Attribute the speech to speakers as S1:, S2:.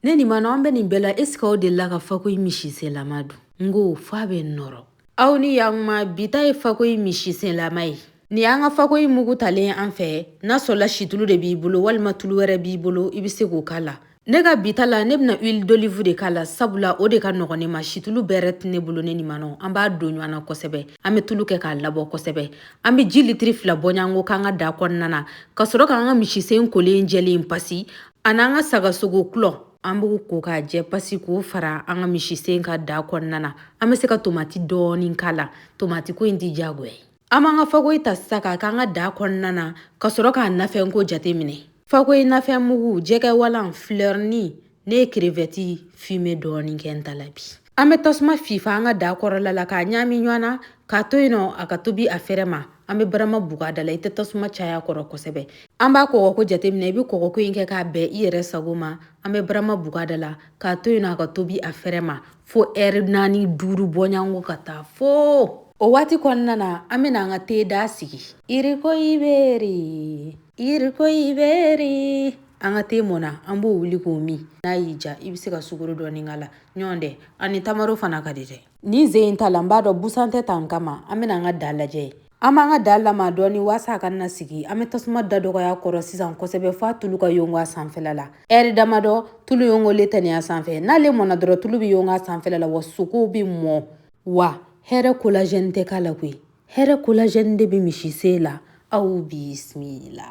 S1: ne nin ma an bɛ nin bɛɛ la est-ce qu'aw delila ka fakoyi misisenlama dun n ko f'a bɛ nɔrɔ aw ni yantuma bi ta ye fakoyi misisenlama ye ni an ka fakoyi mugu talen an fɛ n'a sɔrɔla situlu de b'i bolo walima tulu wɛrɛ b'i bolo i bɛ se k'o k'a la ne ka bi ta la ne bɛna huile d'olive de k'a la sabula o de ka nɔgɔn ne ma situlu bɛrɛ tɛ ne bolo ne ni manɔ an b'a don ɲɔgɔn na kosɛbɛ an bɛ tulu kɛ k'a labɔ kosɛbɛ an bɛ ji litiri fila bɔɲanko k'an ka da kɔnɔna na ka sɔrɔ k'an ka misisen kolen jɛlen pasi Ani an ka sagasogo kolo an b'u ko k'a jɛ pasi k'o fara an ka misisen kan da kɔnɔna na an bɛ se ka tomati dɔɔni k'a la tomati ko in tɛ jagoya ye an b'an ka fakoyi ta sa k'a k'an ka da kɔnɔna na ka sɔrɔ k'a nafɛnko jate minɛ fakoyi nafɛnmugu jɛgɛwalan filɛ nin ne ye crevette fumée dɔɔni kɛ n ta la bi an bɛ tasuma fifa an ka da kɔrɔla la k'a ɲaami ɲɔgɔn na k'a to yen nɔ a ka tobi a fɛrɛ ma an bɛ barama bug'a da la i tɛ tasuma cay'a kɔrɔ kosɛbɛ an b'a kɔgɔko jateminɛ i bɛ kɔgɔko in kɛ k'a bɛn i yɛrɛ sago ma an bɛ barama bug'a da la k'a to yen nɔ a ka tobi a fɛrɛ ma fo ɛri naani duuru bɔɲanko ka taa fo o waati kɔnɔna na an bɛna an ka te da sigi iriko iberi iriko iberi an ka te mɔna an b'o wuli k'o min n'a y'i diya i bɛ se ka sukaro dɔɔni k'a la ɲɔgɔn tɛ ani tamaro fana ka di dɛ ni ze in ta la n b'a dɔn busan tɛ tan kama an bɛna an ka da lajɛ an b'an ka da lama dɔɔni waasa a kana sigi an bɛ tasuma da dɔgɔy'a kɔrɔ sisan kosɛbɛ f'a tulu ka yongo a sanfɛla la ɛri damadɔ tulu yongolen tɛ nin y'a sanfɛ n'ale mɔna dɔrɔn tulu bɛ yongo a sanfɛla la wa sogow bɛ mɔ wa hɛrɛ collagène tɛ k'a la koyi hɛrɛ collagène de bɛ misisen la aw bisimila